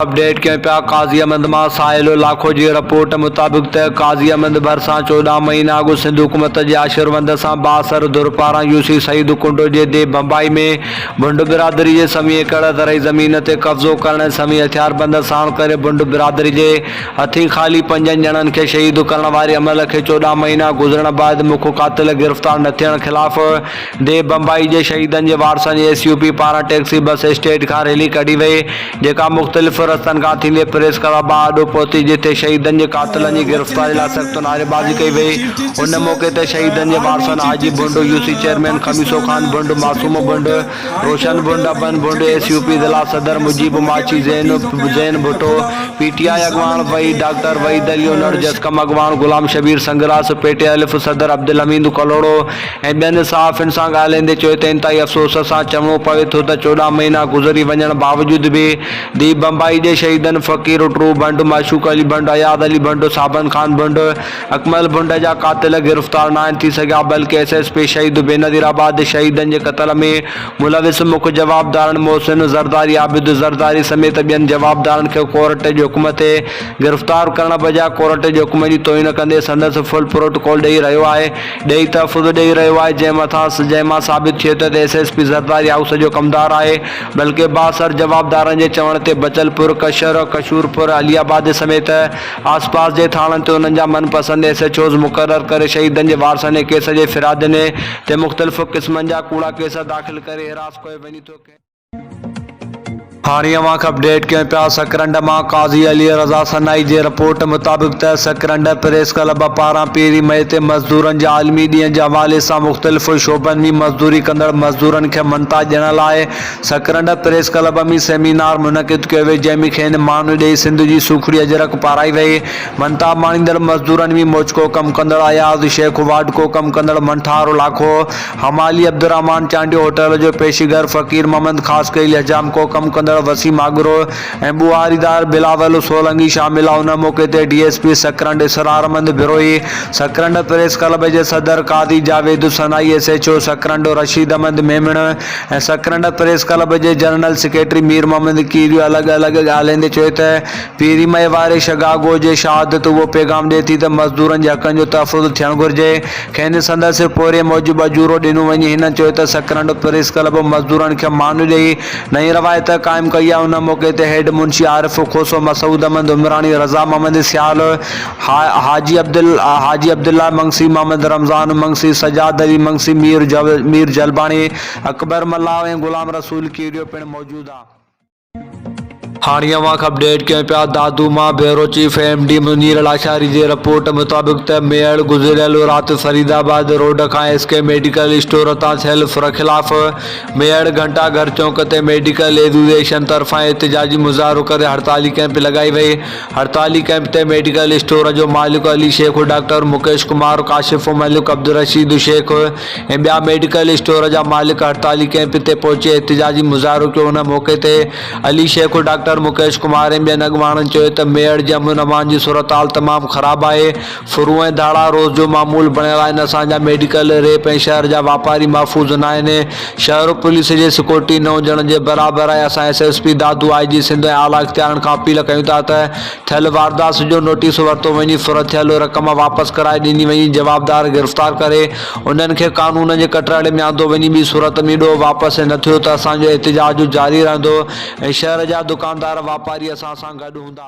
Update ڪيون پيا قاضي احمد مان ساحل لاکو جي رپورٽ مطابق ته قاضي احمد ڀرسان چوڏهن مهينا اڳ سنڌ حڪومت جي آشروند سان بااثر ڌر پاران يوسي سعيد ڪنڊو جي ديھ ڀنڀائي ۾ ڀنڊ برادري جي سوين ايڪڙ زرعي زمين تي قبضو ڪرڻ ۽ سوين هٿياربند ساڻ ڪري ڀنڊ برادري جي هٿين خالي پنجن ڄڻن کي شهيد ڪرڻ واري عمل کي چوڏهن مهينا گذرڻ بعد مک قاتل گرفتار نه ٿيڻ خلاف ديب بمبئي جي شهيدن جي وارثن جي ايس يو پي پاران ٽيڪسي بس اسٽيڊ کان ريلي ڪڍي وئي جيڪا مختلف رستن کان ٿيندي پريس ڪلب ٻه آڏو پهتي جتي شهيدن جي قاتلن جي گرفتاري لاء سخت نعريبازي ڪئي وئي ان موقعي تي شهيدن جي وارثن Haji Bhand U C chairman Khamiso Khan Bhand Masoom Bhand Roshan Bhand ابن ڀنڊ ايس يو پي ضلع صدر Mujeeb Machhi Zain Zain Bhutto P T I اڳواڻ وحيد ڊاڪٽر وحيد علي انڙ جسقم اڳواڻ غلام شبير سنگراس پي ٽي الف صدر عبدالحميد ڪلهوڙو ۽ ٻين صحافين سان ڳالهائيندي چيو ته انتهائي افسوس سان چوڻو پوي ٿو ته چوڏهن مهينا گذري وڃڻ باوجود به ديهه بمبئي جي شهيدن فقير اٽرو ڀنڊ، معشوق علي ڀنڊ، اياز علي ڀنڊ، صابن خان ڀنڊ، اڪمل ڀنڊ جا قاتل گرفتار ناهن ٿي سگهيا بلڪه S S P Shaheed Benazir آباد شهيدن جي قتل ۾ ملوث مک جوابدارن محسن زرداري، عابد زرداري سميت ٻين جوابدارن کي ڪورٽ جي حڪم تي گرفتار ڪرڻ بجاء ڪورٽ جي حڪم جي توهين ڪندي سندس فل پروٽوڪول ڏئي رهيو آهي. ڏيئي تحفظ ڏيئي رهيو آهي جنهن مٿان جنهن مان ثابت ٿئي ته S S P Zardari house جو ڪمدار آهي بلڪه بااثر جوابدارن جي چوڻ تي بچل پور ڪشر ڪشور پور علي آباد سميت آس پاس جي ٿاڻن تي انهن جا من پسند ايس ايڇ اوز مقرر ڪري شهيدن جي وارثن ۽ ڪيس جي فرادين تي مختلف قسمن جا ڪوڙا ڪيس داخل ڪري حراس ڪيو وڃي ٿو ڪنهن هاڻي اوهان کي اپڊيٽ ڪيون پيا سڪرنڊ مان قاضي علي رضا سنائي جي رپورٽ مطابق ته سڪرنڊ پريس ڪلب پاران پهرين مئي تي مزدورن جي عالمي ڏينهن جي حوالي سان مختلف شعبن ۾ مزدوري ڪندڙ مزدورن کي مڃتا ڏيڻ لاء سڪرنڊ پريس ڪلب ۾ سيمينار منعقد ڪيو ويو جنهن ۾ کين مان ڏئي سنڌ جي سوکڙي اجرڪ پارائي وئي مڃتا ماڻيندڙ مزدورن ۾ موچڪو ڪم ڪندڙ اياز شيخ واڍڪو ڪم ڪندڙ منٺار لاکو حمالي عبدالرحمان چانڊيو هوٽل جو پيشيگر فقير محمد خاصخيلي حجام ڪو ڪم ڪندڙ وسيم آگرو ۽ ٻوهاريدار بلاول سولنگي شامل هئا ان موقعي تي D S P Sakrand Israrmand Brohi Sakrand press club جي صدر Qazi Javed Hassan I S H O Sakrand Rasheed Ahmed Memon ۽ Sakrand press club جي جنرل سيڪريٽري ميرمحمد ڪيريو الڳ الڳ ڳالهائيندي چيو ته پيري مئي واري شگاگو جي شهادت اهو پيغام ڏئي ٿي ته مزدورن جي حقن جو تحفظ ٿيڻ گهرجي. کين سندس پورهيي موجب اجورو ڏنو وڃي. هنن چيو ته سڪرنڊ پريس ڪلب مزدورن کي مان ڏئي نئين روايت قائم ڪئي آهي. ان موقعي تي هيڊ منشي عارف کوسو، مسعود احمد عمراڻي، رضا محمد سيال، حاجي حاجي عبدالله منگسي، محمد رمضان منگسي، سجاد علي منگسي، مير مير جلباڻي، اڪبر ملاح ۽ غلام رسول ڪيڙيو پڻ موجود هئا. هاڻي اوهان کي اپڊيٽ ڪيون پيا دادو مان bureau chief M D Munir Lashari جي رپورٽ مطابق ته ميڙ گذريل رات فريد آباد روڊ کان ايس ڪي ميڊيڪل اسٽور تان سيلف رخلاف ميڙ گهنٽا گهر چونڪ تي ميڊيڪل ايزوسيئيشن طرفان احتجاجي مظاهرو ڪري هڙتالي ڪئمپ لڳائي وئي هڙتالي ڪئمپ تي ميڊيڪل اسٽور جو مالڪ علي شيخ، ڊاڪٽر مڪيش ڪمار، ڪاشف ملڪ، عبدالرشيد شيخ ۽ ٻيا ميڊيڪل اسٽور جا مالڪ هڙتالي ڪئمپ تي پهچي احتجاجي مظاهرو ڪيو ان موقعي تي علي شيخ، ڊاڪٽر مڪيش ڪمار ۽ ٻين اڳواڻن چيو ته ميڙ جي امن امان جي صورتحال تمام خراب آهي، سرون ۽ ڌاڙا روز جو معمول بڻيل آهن، اسان جا ميڊيڪل، ريپ ۽ شهر جا واپاري محفوظ ناهن، شهر پوليس جي سيڪورٽي نه هجڻ جي برابر آهي، اسان S S P Dadu, I G Sindh ۽ اعليٰ اختيارن کان اپيل ڪيون ٿا ته ٿيل واردات جو نوٽيس ورتو وڃي، ڦر ٿيل رقم واپس ڪرائي ڏني وڃي، جوابدار گرفتار ڪري انهن کي قانون جي ڪٽهڙي ۾ آندو وڃي، ٻي صورت ۾ ڏوهه واپس نه ٿيو ته اسان جو احتجاج جاري رهندو ۽ شهر جا دڪاندار واپاري اسان سان گڏ هوندا.